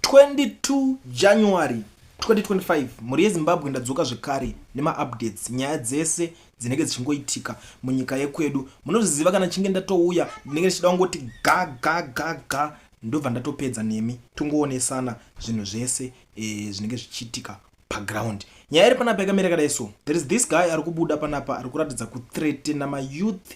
22 January 2025 mhuri yezimbabwe ndadzoka zvekare nemaupdates nyaya dzese dzinenge dzichingoitika munyika yekwedu munozviziva kana chinge ndatouya ndinenge ndichida kungoti ga ga ga ga ndobva ndatopedza nemi tongoonesana zvinhu zvese e, zvinenge zvichiitika paground nyaya iri panapa yakamira yakadai so there is this guy ari kubuda panapa ari kuratidza kuthreatena mayouth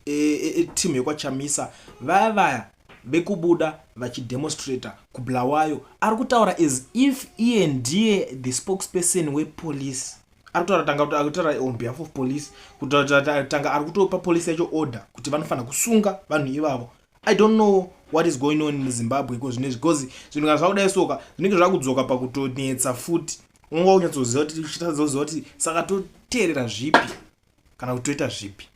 eteam yekwachamisa vaya vaya vekubuda vachidemonstrator kubulawayo ari kutaura as if iye ndiye the spokesperson wepolice ari kutaura tanga kuti ari kutaura on behalf of police kutanga ari kutopa police yacho order kuti vanofanira kusunga vanhu ivavo i don't know what is going on in zimbabwe iko zvine because zvinhu kana zvakudai soka zvinenge zvakudzoka pakutonetsa futi unonga unyatsoziva kuti uchitazoziva kuti saka toteerera zvipi kana kuti toita zvipi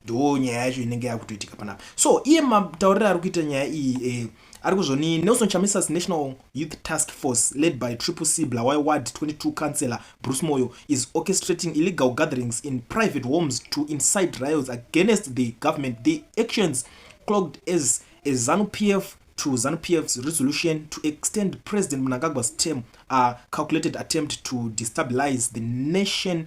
ndo nyaya yacho inenge yakutoitika panapa so iye matauriro ari kuita nyaya iyi eh, ari kuzvoni nelson chamisas national youth task force led by triple c blawai ward 22 councillor bruce moyo is orchestrating illegal gatherings in private homes to incite riots against the government the actions clogged as a zanu p f to zanu p f's resolution to extend president mnangagwa's term a calculated attempt to destabilize the nation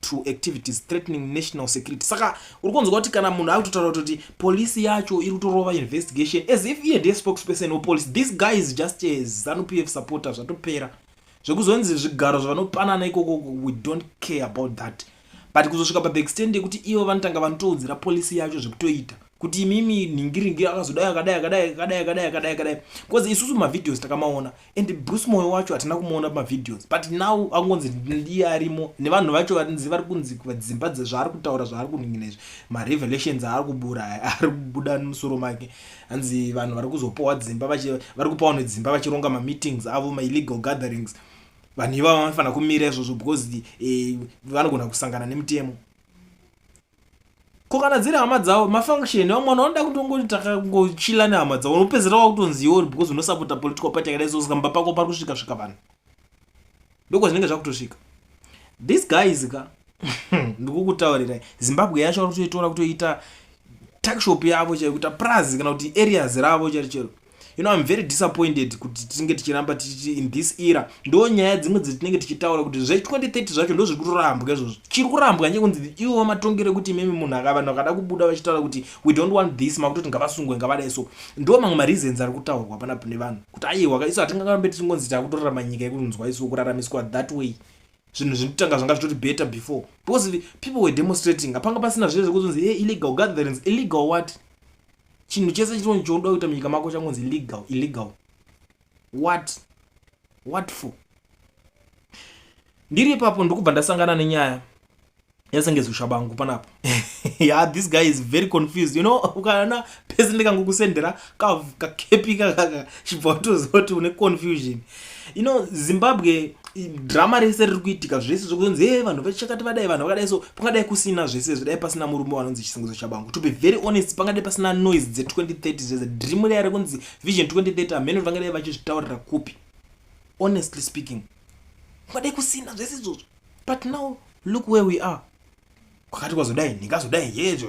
to activities threatening national security saka uri kunzwa kuti kana munhu akutotaura kutoti polisi yacho iri kutorova investigation as if iye ndiye spokesperson wepolice this guy is just a zanu p f supporter zvatopera zvekuzonzi zvigaro zvavanopanana ikoko we don't care about that but kuzosvika pa the extend yekuti ivo vanotanga vanotoudzira polisi yacho zvekutoita kuti imimi nhingiringi akazodai akadai akadai akadai akadai akadai akadai bcause isusu mavideos takamaona and bruce moyo wacho hatina kumuona pamavideos but now akungonzi ndiye arimo nevanhu vacho varinzi vari kunzi vadzimba dzezvaari kutaura zvaari kuningina izvi marevelations aari kubura ari kubuda musoro make hanzi vanhu vari kuzopowa dzimba vari kupawa nedzimba vachironga mameetings avo maillegal gatherings vanhu ivavo vanofanira kumira izvozvo because eh, vanogona kusangana nemutemo ko kana dziri hama dzavo mafunction awo mwana unoda kuti ungoti takangochila nehama dzavo unopedzera wakutonzi iwo because unosapota political party yakadai so saka mba pako pari kusvika svika vanhu ndokwa zvinenge zvakutosvika this guys ka ndikukutaurirai zimbabwe yacho vari kutoitora kutoita takshop yavo chaiyo kuita prazi kana kuti areas ravo chero chero you know i'm very disappointed kuti tinenge tichiramba tichiti in this era ndo nyaya dzimwe dzetinenge tichitaura kuti zve 2030 zvacho ndo zviri kurambwa izvozvo chiri kurambwa nje kunzi ivo vamatongere kuti imimi munhu aka vanhu vakada kubuda vachitaura kuti we don't want this makutoti ngavasungwe ngavadai so ndo mamwe mareasons ari kutaurwa pana pane vanhu kuti aiwa isu hatingangambe tichingonzi takutorarama nyika yekunzwa isu kuraramiswa that way zvinhu zvinotanga zvanga zvitori better before because people were demonstrating hapanga pasina zviye zvekuzonzi hey, illegal gatherings illegal what chinhu chese chinozi chounoda kuita munyika mako changonzi legal illegal what what for ndiri ipapo ndokubva ndasangana nenyaya yasengezwi shabangu panapa ya this guy is very confused you know ukaona pese ndikangokusendera kakepi kakaka chibva utoziva kuti une confusion you know zimbabwe drama rese riri kuitika zvese zvokunzi e vanhu vechakati vadai vanhu vakadai so pangadai kusina zvese zvidai pasina murume wanonzi chisingizo chabangu to be very honest pangadai pasina noise dze2030 zvese dream reya rekunzi vision 2030 amheno vangadai vachizvitaurira kupi honestly speaking pangadai kusina zvese izvozvo but now look where we are kwakati kwazodai ndingazodai yezvo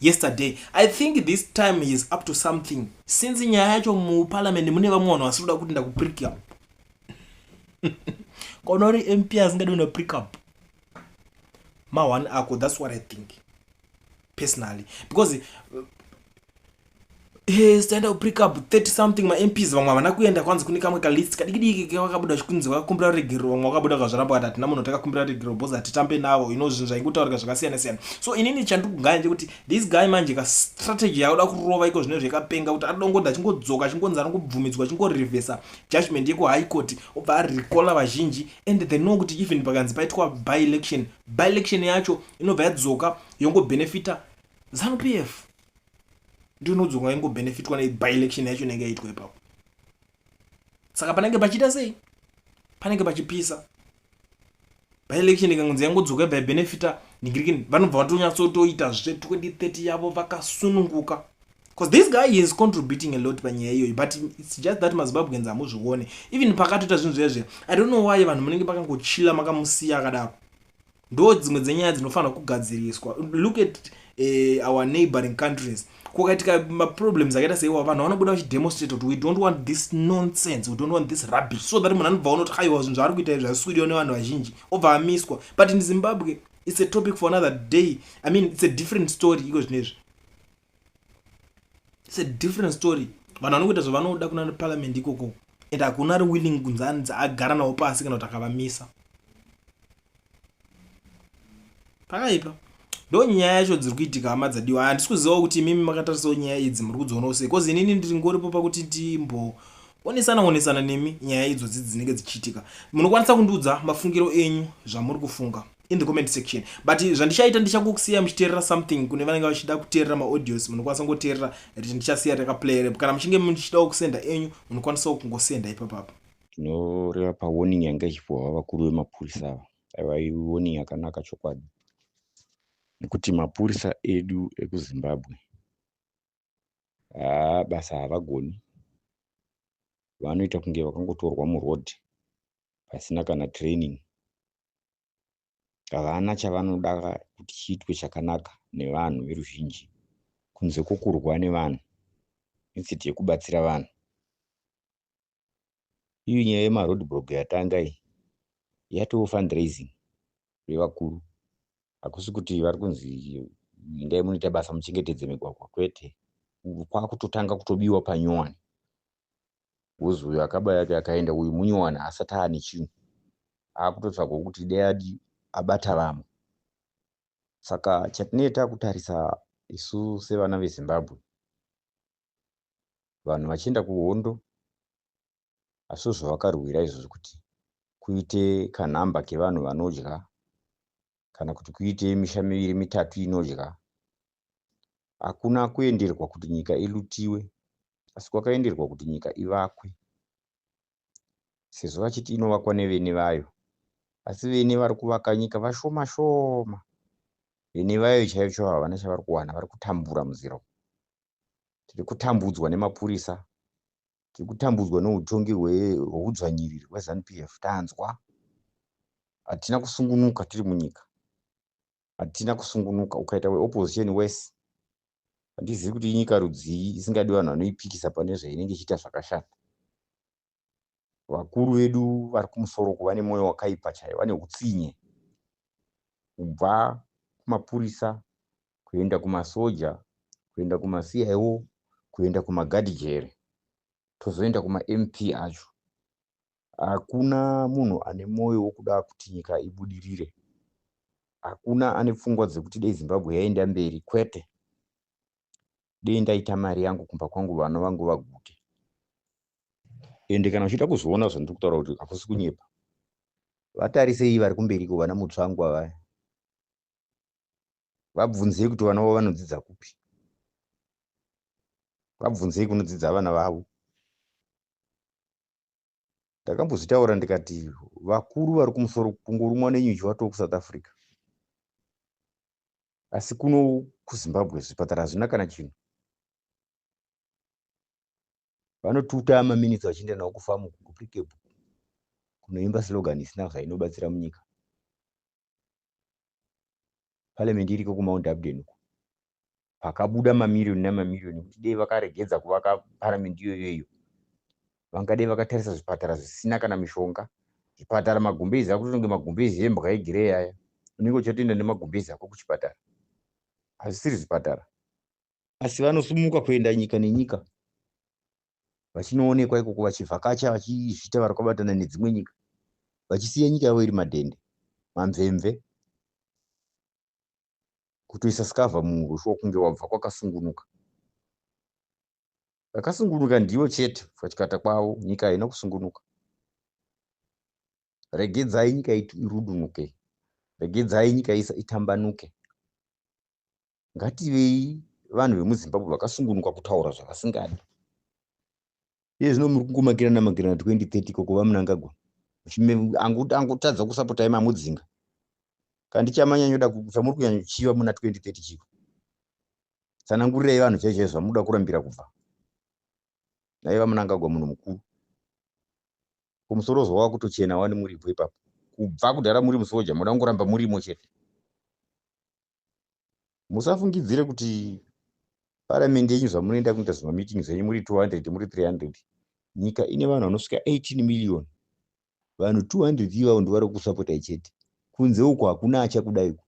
yesterday i think this time he is up to something since nyaya yacho muparliament mune vamwe vanhu vasiri kuda kuti ndakuprick up kona uri mp asingadi una prick up ma-one ako that's what i think personally because uh, Hey, stand up pick up 30 something ma MPs vamwe havana kuenda kwanzi kune kamwe ka list kadikidiki kevakabuda zvikunzi vakakumbira regero vamwe vakabuda kazvaramba vakati hatina munhu takakumbira regero bos hatitambe navo ino zvinhu zvaingotaurika zvakasiyana siyana so inini chandikugaya ndekuti this guy manje ka strategy yaoda kurova iko zvine zvekapenga kuti adongoda achingodzoka achingonzi anongobvumidzwa achingorevesa judgment yeku high court obva arecola vazhinji and they know kuti even pakanzi paitwa by election by election yacho inobva yadzoka yongobenefita zanupf ndiyo inodzonga ingobenefitwa nebyelection yacho inenge yaitwa ipapo saka panenge pachiita sei panenge pachipisa byelection ikangonzi yangodzoka ibva yabenefita nigirikini vanobva vatonyatsotoita zve 2030 yavo vakasununguka bcause this guy is contributing a lot panyaya iyoyi but its just that mazimbabweans hamuzvione even pakatoita zvinhu zviya zviya i don't know why vanhu munenge makangochila makamusiya akadaro ndo dzimwe dzenyaya dzinofanira kugadziriswa look at uh, our neighboring countries kukaitika maproblems akaita seiwa vanhu vanobuda vachidemonstrate kuti we don't want this nonsense we don't want this rubbish so that munhu anobva unoti aiwa zvinhu zvaari kuita izvi hazvisudiwa nevanhu vazhinji obva amiswa but in zimbabwe it's a topic for another day i mean it's a different story iko zvino izvi its a different story vanhu vanokuita zvavanoda kuna parliament ikoko and hakuna ari willing kunzi anzi agara navo pasi kana kuti akavamisa pakaipa ndo nyaya yacho dziri kuitika hama dzadiwa handisi kuzivawo kuti imimi makatarisawo nyaya idzi muri kudzionawo sei bcause inini ndiri ngoripo pakuti ndimboonesana onesana nemi nyaya idzodzi dzinenge dzichiitika munokwanisa kundiudza mafungiro enyu zvamuri kufunga in the comment section but zvandichaita ndichakusiya muchiteerera something kune vanenge vachida kuteerera maaudios munokwanisa kungoteerera rich ndichasiya rekaplay rep kana muchinge muchida kusenda enyu munokwanisawo kungosenda ipapapo tinoreva pawarning yanga ichipuhwa vakuru vemapurisa ava aiva iwarning yakanaka chokwadi nekuti mapurisa edu ekuzimbabwe haa basa havagoni vanoita kunge vakangotorwa muroad pasina kana training havana chavanoda kuti chiitwe chakanaka nevanhu veruzhinji kunze kwokurwa nevanhu instead yekubatsira vanhu Iyo nyaya yema road block yatanga iyi yatoo fundraising yevakuru. Hakusi kuti vari kunzi endai munoita basa muchengetedze migwagwa kwete. Kwakutotanga kutobiwa panyowani. Wozi uyu akaba yake akaenda uyu munyowani haasati aane chinhu. Akutotsvagwa kuti dai adii abata vamwe. Saka chatinenge takutarisa isu sevana veZimbabwe vanhu vachienda kuhondo asi zvavakarwira izvozvo kuti kuite kanhamba kevanhu vanodya kana kuti kuite misha miviri mitatu inodya hakuna kuenderwa kuti nyika ilutiwe asi kwakaenderwa kuti nyika ivakwe sezvo vachiti inovakwa nevene vayo asi vene vari kuvaka nyika vashoma shoma vene vayo chaiyo chavo havana chavari kuwana vari kutambura muziro tiri kutambudzwa nemapurisa tiri kutambudzwa neutongi hweudzvanyiriri hwezanup f tanzwa hatina kusungunuka tiri munyika hatina kusungunuka ukaita weopposition wese handizivi kuti inyika rudzii isingadi vanhu vanoipikisa pane zvainenge ichiita zvakashata Vakuru vedu vari kumusoro uku vane mwoyo wakaipa chaiwo, vane hutsinye. Kubva kumapurisa, kuenda kumasoja, kuenda kumaCIO, kuenda kumagadhijere, tozoenda kumaMP acho. Hakuna munhu ane mwoyo wokuda kuti nyika ibudirire. Hakuna ane pfungwa dzekuti dai Zimbabwe yaenda mberi, kwete. dei ndaita mari yangu kumba kwangu vana vangu vaguke ende kana uchida kuzoona zvandiri kutaura kuti hakusi kunyepa vatarisei vari kumberiko vana mutsvangwa vaya vabvunzei kuti vana vavo vanodzidza kupi vabvunzei kunodzidza vana vavo ndakambozvitaura ndikati vakuru vari kumusoro kungorumwa nenyuchi watoo kusouth africa asi kuno kuzimbabwe zvipatara hazvina kana chinhu vanotuta maminitsi vachienda nawo kufamu kuprikebhu kunoimba slogan isina zvainobatsira munyika parliament iriko kumount abden uko pakabuda mamiriyoni nemamiriyoni kuti dei vakaregedza kuvaka parliament iyoyo iyo vangadei vakatarisa zvipatara zvisina kana mishonga zvipatara magumbezi akutonge magumbezi embwa egirei aya unenge uchatoenda nemagumbezi ako kuchipatara hazvisiri zvipatara asi vanosumuka kuenda nyika nenyika vachinoonekwa ikoko vachivhakacha vachizviita vari kwabatana nedzimwe nyika vachisiya nyika yavo iri madhende mamvemve kutoisa skavha muurushu wokunge wabva kwakasungunuka vakasungunuka ndivo chete pachikata kwavo nyika haina kusungunuka regedzai nyika irudunuke regedzai nyika itambanuke ngativei vanhu vemuzimbabwe vakasungunuka kutaura zvavasingadi iye zvino muri kungomakirana makirana 2030 koko vamunangagwa angotadza kusapota ye mamudzinga kandichamanyanyuda kubva muri kunyanyochiva muna 2030 chivo tsanangurirai vanhu chaizvai zvamuda kurambira kubva nai vamunangagwa munhu mukuru kumusoro zvawa kutochena wani muripo ipapo kubva kudhara muri musoja muda kungoramba murimo chete musafungidzire kuti paramende yenyu zvamunoenda kuita zvimameeting zvenyu muri 200 muri 300 nyika ine vanhu vanosvika 18 million vanhu 200 ivavo ndivari kusapotai chete kunze uko hakuna achakudai uko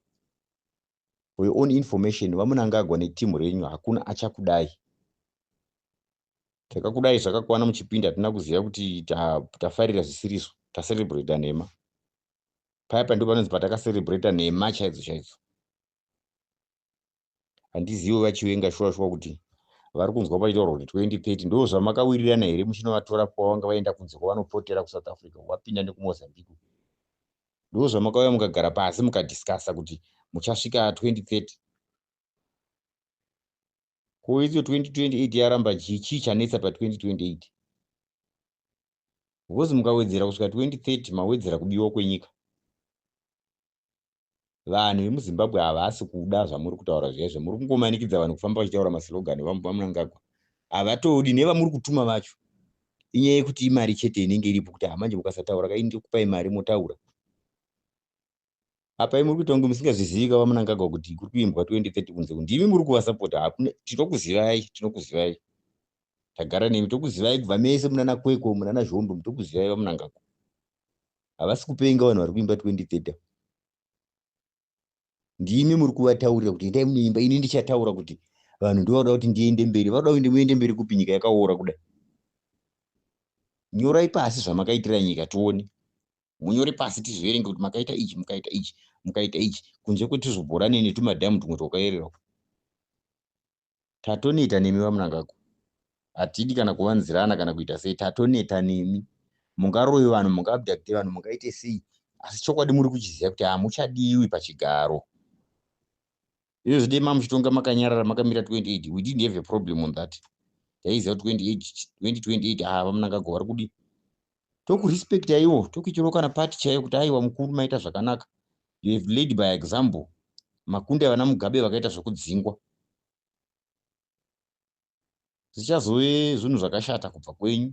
for your own information vamunangagwa netimu renyu hakuna achakudai takakudai zvakakwana muchipinda hatina kuziva kuti tafarira zvisiriso tacelebrata nhema paya pa ndipo panonzi patakaserebreta nhema chaidzo chaidzo handizivi vachiwenga shuwa shuwa kuti vari kunzwa paitaurwa kuti 2030 ndo zvamakawirirana here muchinovatora kwavanga vaenda kunze kwavanopotera kusouth africa wapinda nekumozambique ndo zvamakauya mukagara pasi mukadiscasa kuti muchasvika 2030 koidzo 2028 yaramba chii chanetsa pa 2028 because mukawedzera kusvika 2030 mawedzera kubiwa kwenyika vanhu vemuzimbabwe havasi kuda zvamuri kutaura zviyaizvo muri kungomanikidza vanhu kufamba vachitaura maslogani vamunangagwa havatodi nevamuri kutuma vacho inyaya yekuti imari chete inenge iripo kuti hamanje mukasataura kai ndikupai mari motaura apa imi muri kuita kunge musingazvizivi ka vamunangagwa kuti kuri kuimbwa 2030 kunze kunzi imi muri kuvasapota hakuna tinokuzivai tinokuzivai tagara nemi tokuzivai kubva mese munana kweko munana zvombo mutokuzivai vamunangagwa havasi kupenga vanhu vari kuimba 2030 ndimi muri kuvataurira kuti endai munoimba ini ndichataura kuti vanhu ndovada kuti ndiende mberi vada kuende muende mberi kupi nyika yakaora kudai nyorai pasi zvamakaitira nyika tione munyore pasi tizviverenge kuti makaita ichi mukaita ichi mukaita ichi kunze kwetuzvibhorani netumadhamu tumwe twakayerera tatoneta nemi vamunangagwa hatidi kana kuvanzirana kana kuita sei tatoneta nemi mungaroyi vanhu mungabdakte vanhu mungaite sei asi chokwadi muri kuchiziva kuti hamuchadiwi pachigaro Izvo zvidei mamuchitonga makanyarara makamira 28 we didn't have a problem on that. Taiziva 28 2028 ah vamunangagwa vari kudi. Tokurespect aiwo tokuitirawo kana party chaiyo kuti aiwa mukuru maita zvakanaka. You have led by example. Makunde vana Mugabe vakaita zvokudzingwa. zvichazove zvinhu zvakashata kubva kwenyu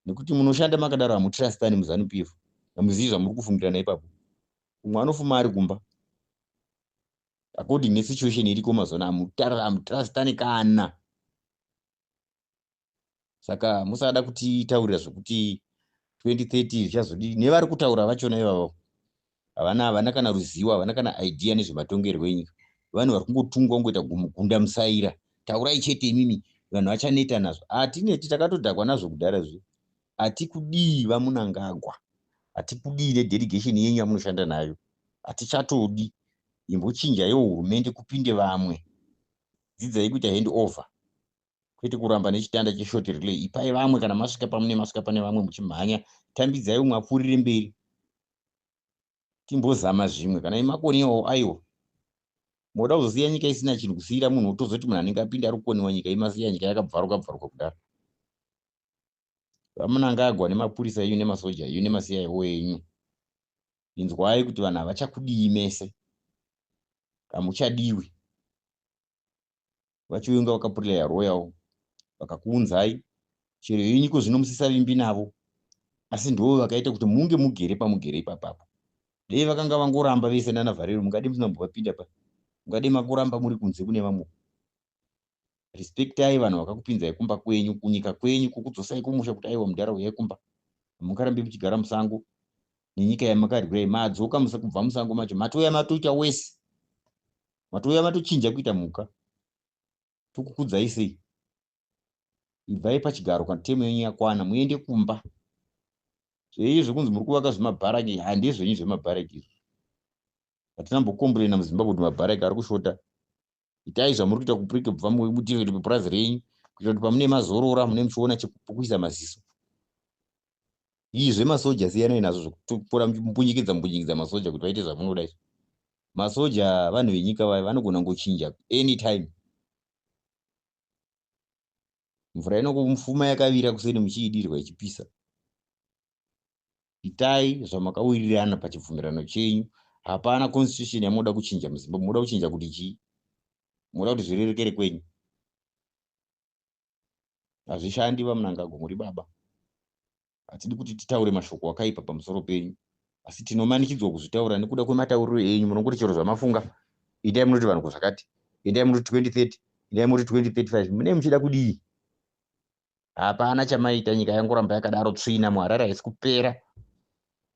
nekuti munoshanda makadaro hamutrastani muzanu p f hamuzivi zvamuri kufungira naipapo umwe anofuma ari kumba according nesituation iriko mazona hamutrastani kana saka musada kutitaurira zvekuti 2030 zvichazodii nevari kutaura vachona ivavo havana havana kana ruzivo havana kana idea nezvematongerwo enyika vanhu vari kungotungwa kungoita gumugunda musaira taurai chete imimi vanhu vachaneta nazvo hatineti takatodhakwa nazvo kudhara zve hatikudii vamunangagwa hatikudii nedelegation yenyu yamunoshanda nayo hatichatodi imbochinjaiwo hurumende kupinde vamwe dzidzai kuita hand over kwete kuramba nechitanda cheshort relay ipai vamwe kana masvika pamune masvika pane vamwe muchimhanya tambidzai umwe apfuurire mberi timbozama zvimwe kana imakoni iwawo aiwa moda kuzosiya nyika isina chinhu kusiira munhu otozoti munhu anenge apinda ari kukoniwa nyika imasiya nyika yakabvaruka bvaruka kudaro vamunangagwa nemapurisa enyu nemasoja enyu nemasiya iwo enyu inzwai kuti vanhu havachakudii mese kamuchadiwi vachiuya kunge vakapurlaya royal vakakuunzai chero yenyu ko zvino musisavimbi navo asi ndoo vakaita kuti munge mugere pamugere ipapapo dei vakanga vangoramba vese nana vharero mungade musina mbovapinda pa mungade makuramba muri kunze kune vamwe respectai vanhu vakakupinzai kumba kwenyu kunyika kwenyu kukudzosai kumusha kuti aiwa mudhara uyai kumba hamungarambi muchigara musango nenyika yamakaryira imadzoka musa kubva musango macho matouya matoita wese matouya matochinja kuita mhuka tokukudzai sei ibvai pachigaro kana temu yenyu yakwana muende kumba zveiyi zvekunzi muri kuvaka zvemabharaki handizvenyu zvemabharaki izvo hatina mbokomburena muzimbabwe kuti mabharaki ari kushota itai zvamuri kuita kuprike bva mubudire kuti pepurazi renyu kuita kuti pamune mazorora mune muchiona chekuisa maziso izvi zvemasoja siyanai nazvo zvekutora mumbunyikidza mumbunyikidza masoja kuti vaite zvamunoda izvi masoja vanhu venyika vaya vanogona ngochinja anytime mvura inokumfuma yakavira kuseni muchiidirwa ichipisa itai zvamakawirirana pachibvumirano chenyu hapana constitution yamunoda kuchinja muzimbabwe munoda kuchinja kuti chii munoda kuti zvirerekere kwenyu hazvishandi vamunangagwa muri baba hatidi kuti titaure mashoko akaipa pamusoro penyu asi tinomanikidzwa kuzvitaura nekuda kwematauriro enyu munongoti chero zvamafunga itai munoti vanhu kuzvakati itai munoti 2030 itai munoti 2035 munei muchida kudii hapana chamaita nyika yangoramba yakadaro tsvina muharare haisi kupera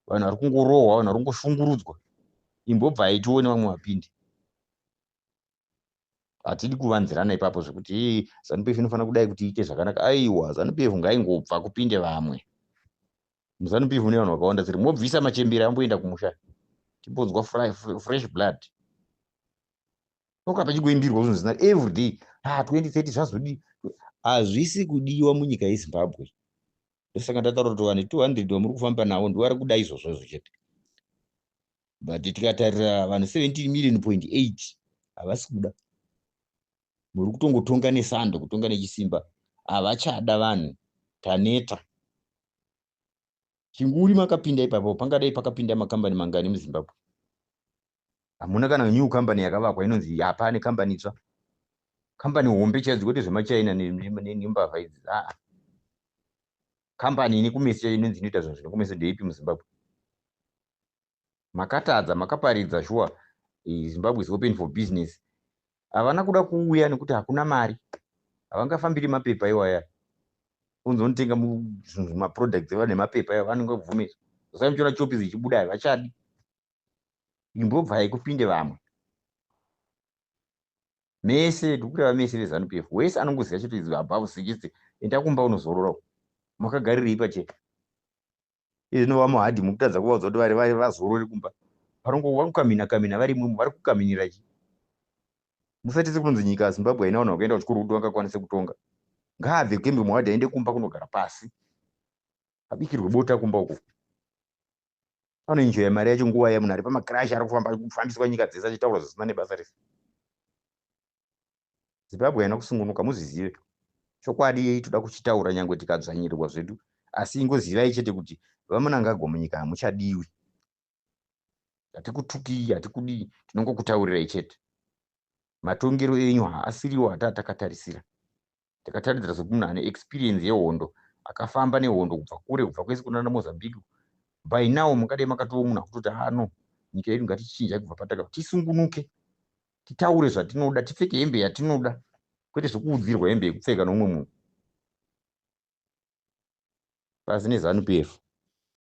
vanhu vari kungorohwa vanhu vari kungoshungurudzwa imbobvai tione vamwe vapindi hatidi kuvanzirana ipapo zvekuti hey, zanu pf inofanira kudai kuti iite zvakanaka aiwa zanu pf ngaingobva kupinde vamwe muzanu pf mune vanhu vakawanda seri mobvisa machembere amboenda kumusha timbonzwa fresh blood toka pachingoimbirwa zvinhu zina every day ha ah, 2030 zvazodii hazvisi kudiwa munyika yezimbabwe ndosaka ndataura kuti vanhu 200 vamuri kufamba navo ndivari kuda izvozvo izvo chete but tikatarira vanhu 17 million point 8 havasi kuda muri kutongotonga nesando kutonga nechisimba havachada vanhu taneta chinguri makapinda ipapo pangadai pakapinda makambani mangani muzimbabwe hamuna kana new company yakavakwa inonzi hapane kambani itsva kambani hombe chaidzo kwete zvemachina nembavha idzi aa kambani ine kumeso inonzi inoita zvinhu zvine kumeso ndeipi muzimbabwe makatadza makaparidza shuwa zimbabwe is open for business havana kuda kuuya nekuti hakuna mari havangafambiri mapepa iwaya unzonotenga maproducts eva nemapepa iwa vanenge vabvumisa zosai muchiona chopi zichibuda havachadi imbobvai kupinde vamwe mese ndikureva mese vezanup f wese anongoziva chete above sechete enda kumba unozorora makagarirei pachete izvi zvinova muhadhi mukutadza kuvaudza kuti vari vari vazorori kumba vanongova kukamina kamina vari imwemo vari kukaminira chi musatise kunonzi nyika yazimbabwe haina vanhu vakaenda kuchikoro kuti vangakwanise kutonga ngaabve kembe muhadhi aende kumba kunogara pasi abikirwe bota kumba uko anoenjoya mari yacho nguva yamunhu ari pamacrash ari kufamba kufambiswa nyika dzese achitaura zvisina nebasa rese zimbabwe haina kusungunuka muzvizive chokwadi yei toda kuchitaura nyange tikadzvanyirirwa zvedu asi ingozivai chete kuti vamunangagwa munyika hamuchadiwi hatikutukii hatikudii tinongokutaurirai chete matongero enyu haasiriwo hataa takatarisira ndikataridzira sekuti munhu ane experience yehondo akafamba nehondo kubva kure kubva kwese kunana mozambique by now mungadai makatoo munhu akutoti ano ah, nyika yedu ngatichinjai kubva pataka tisungunuke titaure zvatinoda tipfeke hembe yatinoda kwete zvekuudzirwa hembe yekupfeka nomumwe munhu pasi nezanu pf